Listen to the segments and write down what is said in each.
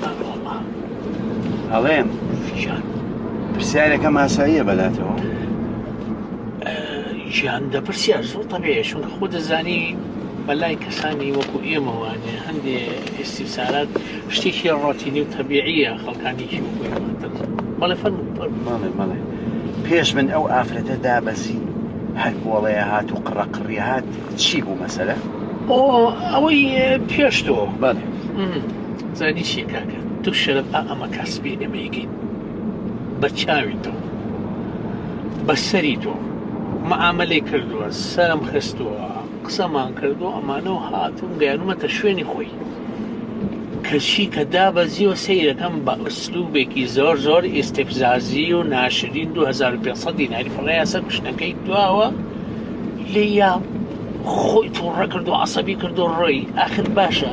بەڵام ئەڵێم گیان پرسیارەکەم ئاساییە بەلاتەوە گیان دەپرسیار زۆر تەبێ چون خۆ دەزانی بەلای کەسانی وەکو ئێمەوانێ هەندێ ئێستیسارات شتێکی ڕۆتینی و تەبیعیە خەڵکانێکی وەکو ئێمەتر بەڵێ فەرم ماڵێ ماڵێ پێش من ئەو ئافرەتە دابەزی هەر بۆڵەیە هات و قڕە قڕی هات چی بوو مەسەرە ئەوەی پێشتەوە بەڵێ زانی چیە کاکە تو شەرەف ئا ئەمە کاسپی ئەمەیکەی بە چاوی تۆ بەسەری تۆ معاملەی کردووە سەرم خستووە قسەمان کردو ئەمانە و هاتون گەیانومەتە شوێنی خۆی کەچی کە دابەزی و سیرەکەم بە ئەسلوبێکی زۆر زۆر ئیسفزازی و ناشرین 2500 دیناری فڕەیە سەر کوشتەکەی دواوە لێ یا خۆی توڕە کرد و عسەبی کرد و ڕۆی ئاخر باشە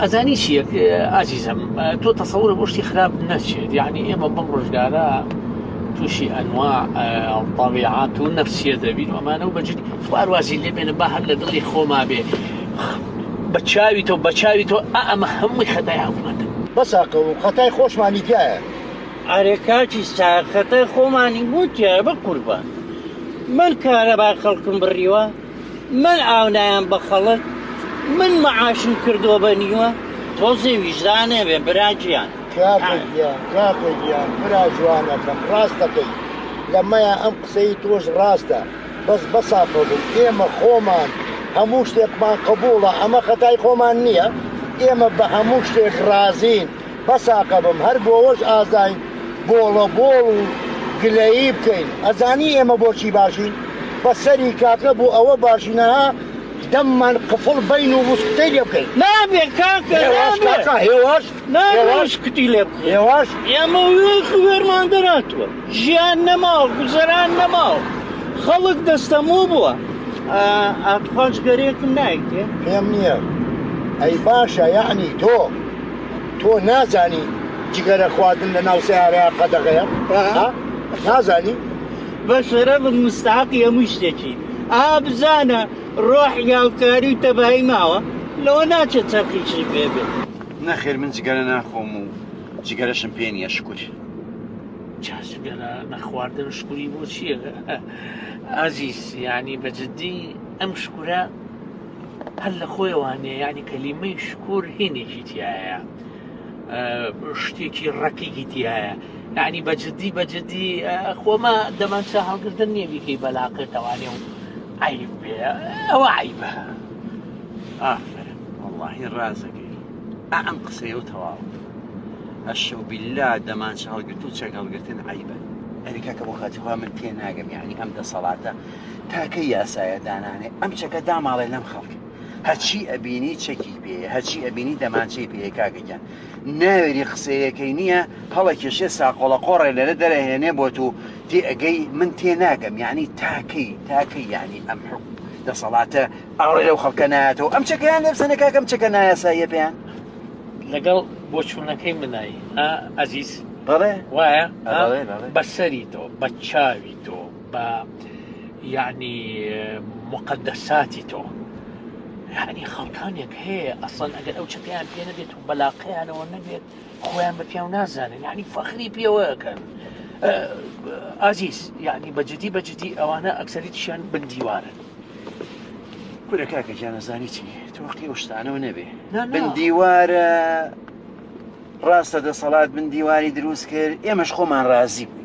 ئەزانی چیەک ئازیزم تۆ تەسەورە بۆ شتی خراپ نەچێت یعنی ئێمە بەم ڕۆژگارە تووشی ئەنوا ئەڵپاویعات و نەفسیە دەبین ئەمانە و بەجدی خوارواازی لێ بێنە با هەر لە دڵی خۆما بێ بە چاوی تۆ بە چاوی تۆ ئەمە هەمووی خەتای حکوومەت بەساکە و خەتای خۆشمانی تایە ئارێ کاکی ساخەتە خۆمانی بۆ تایە بە قوربان من کارەبا خەڵکم بڕیوە من ئاو نایەم بە خەڵک من معاشم کردوە بە نیوە تۆزێ ویژدانێ بێ برا گیان. کاکە گیان کاکە گیان برا جوانەکەم ڕاست دەکەی لەمەیە ئەم قسەی تۆش ڕاستە بەس بەسافەبن ئێمە خۆمان هەموو شتێکمان قبوڵە ئەمە خەتای خۆمان نییە ئێمە بە هەموو شتێک ڕازین بەساقە بم هەر بۆوەش ئازاین بۆڵە بۆڵ و گلەیی بکەین ئەزانی ئێمە بۆچی باشین بەسەری کاکە بۆ ئەوە باشینەها دەممان قفڵ بین و وسکتەی لێ بکەین نابێ کاکە نابێ هێواش هێواش کتی لێ بکەین هێواش ئێمە وێخ وێرمان دەراتوە ژیان نەماوە گوزەران نەماوە خەڵک دەستەمۆ بووە ئاتوخان جگەرەیەکم نایتێ پێم نییە ئەی باشە یعنی تۆ تۆ نازانی جگەرە خواردن لە ناو سەیارەیە قەدەغەیە ها نازانی بەشەرەف مستحقی هەموو شتێکی ئا بزانە ڕۆح یاوکاری و تەبایی ماوە لەوە ناچێت چەرخیشی پێ بێت نەخێر من جگەرە ناخۆم و جگەرەشم پێ نییە شکر چاشگەرە نەخواردن شکوری بۆ چییە ئازیز یعنی بە جددی ئەم شکورە هەر لە خۆیەوە نیە یعنی کەلیمەی شکور هینێکی تایە شتێکی ڕقیکی تایە یعنی بەجددی بەجددی خۆمە دەمان چا هەڵگردن نییە بیکەی بەلاقێ تەوانێ و عیب بێ ئەوە عیبە ئافر وڵی ڕازەکەی ئەم قسەیە و تەواو ئەشە و بیللا دەمان چ هەڵگرت و چەک هەڵگرتن عیبە ئەریکاکە بۆ خاتیخوا من تێ ناگەم یعنی ئەم دەسەڵاتە تاکە یاسایە دانانێ ئەم چەکە داماڵێ لەم خەڵک هەچی ئەبینی چەکی پێ هەچی ئەبینی دەمانچەی پێ کاگەگیان ناوێری قسەیەکەی نییە هەڵە کێشێ ساقۆڵە قۆڕێ لەرە دەرەهێنێ بۆ تو تێ ئەگەی من تێ ناگەم یعنی تاکەی تاکەی یعنی ئەم حکو دەسەڵاتە ئاڕێ لەو خەڵکە نایەتەوە ئەم چەکەیان لێبسەنە کاکەم چەکە نایاساییە پێیان لەگەڵ بۆچوونەکەی منایی ئازیز بەڵێ وایە بەسەری تۆ بە چاوی تۆ بە یعنی مقدساتی تۆ یعنی خەڵکانێک هەیە ئەسڵەن ئەگەر ئەو چەکەیان پێ نەبێت و بەلاقەیانەوە نەبێت خۆیان بە پیاو نازانن یعنی فەخری پێوەکەن ئازیز یعنی بەجددی بەجددی ئەوانە ئەکسەریتیشان بندیوارن کورە کاکە گیانەزانی چی تۆختی ئەو شتانەوە نەبێ بندیوارە ڕاستە دەسەڵات بندیواری دروست کرد ئێمەش خۆمان ڕازی بوو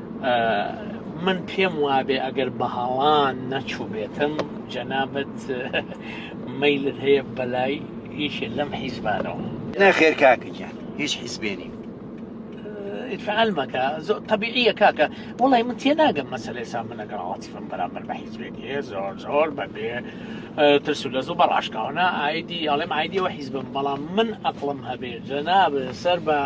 من پێم وابێ ئەگەر بەهاڵان نەچووبێتم جەنابەت مەیلت هەیە بەلای هیچێ لەم حیزبانەوە نەخێر کاکەگیان هیچ حیزبێنین فعل مەکە زۆر طبیعیە کاکە وڵی من تێ ناگەم مەسلێ سا من لەگەڵ عاتیفم بەرامبەر بە حیزبێتی هەیە زۆر زۆر بەبێ ترس و لە زۆ بە ڕاشکاوانە ئایدی ئەڵێم ئایدیەوە حیزبم بەڵام من ئەقلم هەبێ جەناب سەر بە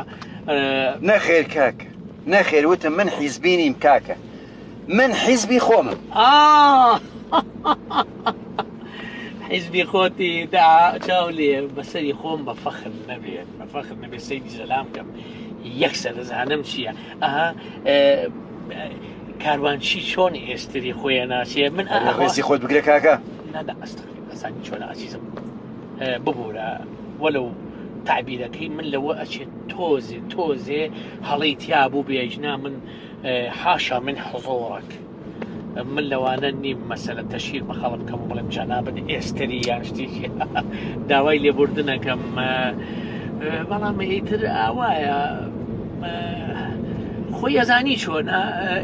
نەخێر کاکە نەخێر وتم من حیزبی نیم کاکە من حیزبی خۆمم حیزبی خۆتی دا چاو لێ بەسەری خۆم بە فەخر نەبێت بە فەخر نەبێت سەیدی زەلام کەم یەکسە دەزانم چییە ئەها کاروانچی چۆن ئێستری خۆیان ناسیێ من ئەڕێزی خۆت بگرە کاکە نادا ئەستخ ئەسانی چۆن عزیزم ببورە وەلو تعبیرەکەی من لەوە ئەچێت تۆزێ تۆزێ هەڵی تیا بوو بێژنا من حاشا من حزۆڕک من لەوانە نیم مەسەلە تەشیر بە خەڵم کەم بڵێم جەنابن ئێستری یان شتێکی داوای لێبوردنەکەم بەڵام ئیتر ئاوایە خۆی ئەزانی چۆن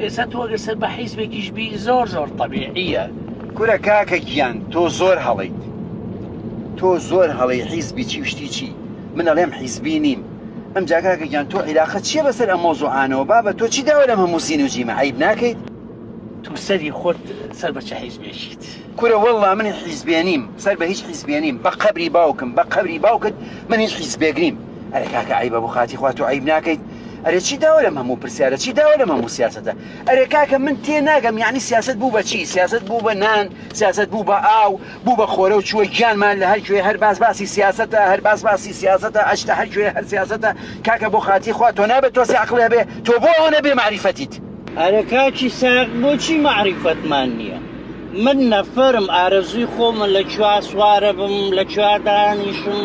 ئێستا تۆگە سەر بە حیزبێکیش بی زۆر زۆر طببیعە کورە کاکە گیان تۆ زۆر هەڵەیت تۆ زۆر هەڵەی حیزبی چی و شتی چی من ئەڵێم حیزبی نیم ئەمجا کاکە گیان تۆ عیلاقە چییە بەسەر ئەم مەوزوعانەوە بابە تۆ چی داوە لەم هەموو زین و جیمە عەیب ناکەیت تو سەری خۆت سەر بە چ حیزبێکیت. کورە وەڵڵا من حیزبێ نیم سەر بە هیچ حیزبێ نیم بە قەبری باوکم بە قەبری باوکت من هیچ حیزبێک نیم ئەرێ کاکە عەیبە بۆ خاتی خوا تۆ عەیب ناکەیت ئەرێ چی داوە لەم هەموو پرسیارە چی داوە لەم هەموو سیاسەتە ئەرێ کاکە من تێ ناگەم یانی سیاسەت بوو بە چی سیاسەت بوو بە نان سیاسەت بوو بە ئاو بوو بە خۆرە و چووە گیانمان لە هەر کوێ هەر باس باسی سیاسەتە هەر باس باسی سیاسەتە ئەچتە هەر کوێ هەر سیاسەتە کاکە بۆ خاتی خوا تۆ نابێت تۆزێ عەقڵی هەبێ تۆ بۆ ئەوەنە بێ مەعریفەتیت. ئەرە کاکی ساغ بۆچی مەعریفەتمان نیە؟ من نەفەرم ئارەزووی خۆمە لە کوێا سوارە بم لە کوێا دانیشم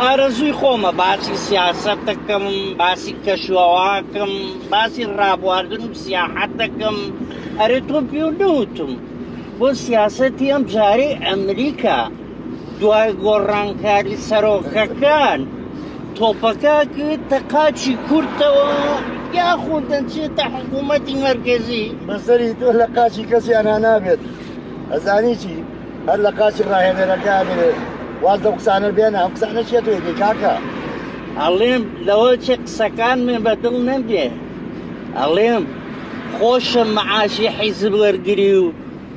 ئارەزووی خۆمە باسی سیاسەت دەکەم باسی کەشوەواکەم باسی ڕابواردن و سیاحەت دەکەم ئەرێ تۆ پێ نەوتم بۆ سیاسەتی ئەم جارەی ئەمریکا دوای گۆڕانکاری سەرۆکەکان تۆپەکە گوێتە قاچی کورتەوە یاخود دەچێتە حکوومەتی مەرگزی بەسەری تۆ لە قاچی کەسی ئەنا نابێت ئەزانی چی هەر لە قاچی ڕاهێنەرەکە بێت واز لە قسانە بێنە ئەم قسانە چێت وێتی کاکە ئەڵێم لەوە چێ قسەکان من بە دڵ نەبێ ئەڵێم خۆشە معاشی حیزب وەرگری و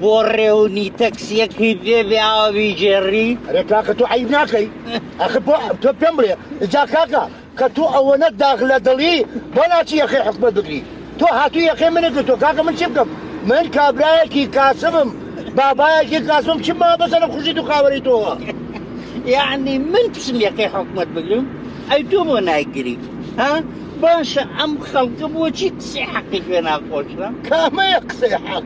بۆ ڕێونی تەکسیەکی بێ بێ ئاوە بیگێڕی ئەرێ کاکە تۆ عیب ناکەی ئەخە بۆ تۆ پێم بڵێ جا کاکە کە تۆ ئەوەنە داغ لە دڵی بۆ ناچی یەخەی حکومەت بگری تۆ هاتوو یەخەی منە گرتۆ کاکە من چی بکەم من کابرایەکی کاسبم بابایەکی کاسبم چی ما بەسەرە خوشی تو خاوەری تۆوە یعنی من پسم یەخەی حکومەت بگرم ئەی تۆ بۆ نایگری ها باشە ئەم خەڵکە بۆچی قسەی حەقی پێ ناخۆشە کامەیە قسەی حەق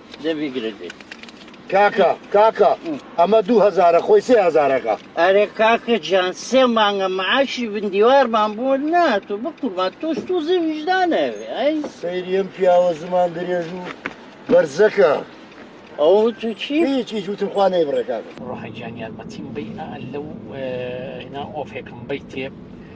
دەبی گرت بێت کاکە کاکە ئەمە دوو هەزارە خۆی سێ هەزارەکە ئەرێ کاکە جان سێ مانگە معاشی بندیوارمان بۆ ناتو بکوڵمان تۆش تو زەویژدانەوێ ئەی سەیریم پیاوە زمان درێژ و بەرزەکە ئەو تو چی هیچی جوتم خوانەی بڕێکاکە ڕۆحەجان یارمەتیم بی لەو هنا ئۆفێکم بیتێ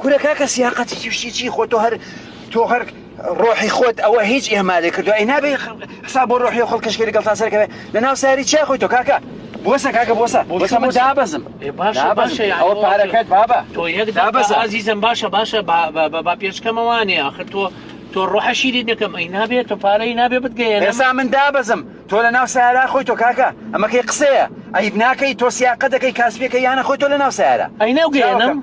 کورە کاکە سیاقەت هیچ شتی چی خۆ تۆ هەر تۆ هەر ڕۆحی خۆت ئەوە هیچ ئێمالێ کردو ئەی نابێ حسا بۆ ڕۆحی و خەڵکەشکێ لەگەڵ تا سەرکەوێ لە ناو ساری چیا خۆی تۆ کاکە بۆسە کاکە بۆسە بۆسە من دابەزم ئەوە پارەکەت بابە تۆ یەک دابەزە ئازیزم باشە باشە با پێشکەمەوانێ ئاخر تۆ تۆ ڕۆحە شیری دەکەم ئەی نابێت تۆ پارەی نابێ بتگەیە ئێستا من دابەزم تۆ لە ناو سارا خۆی تۆ کاکە ئەمەکەی قسەیە ئەیب ناکەی تۆ سیاقە دەکەی کاسپەکە یانە خۆی تۆ لە ناو سارە ئەی ناوگەیانم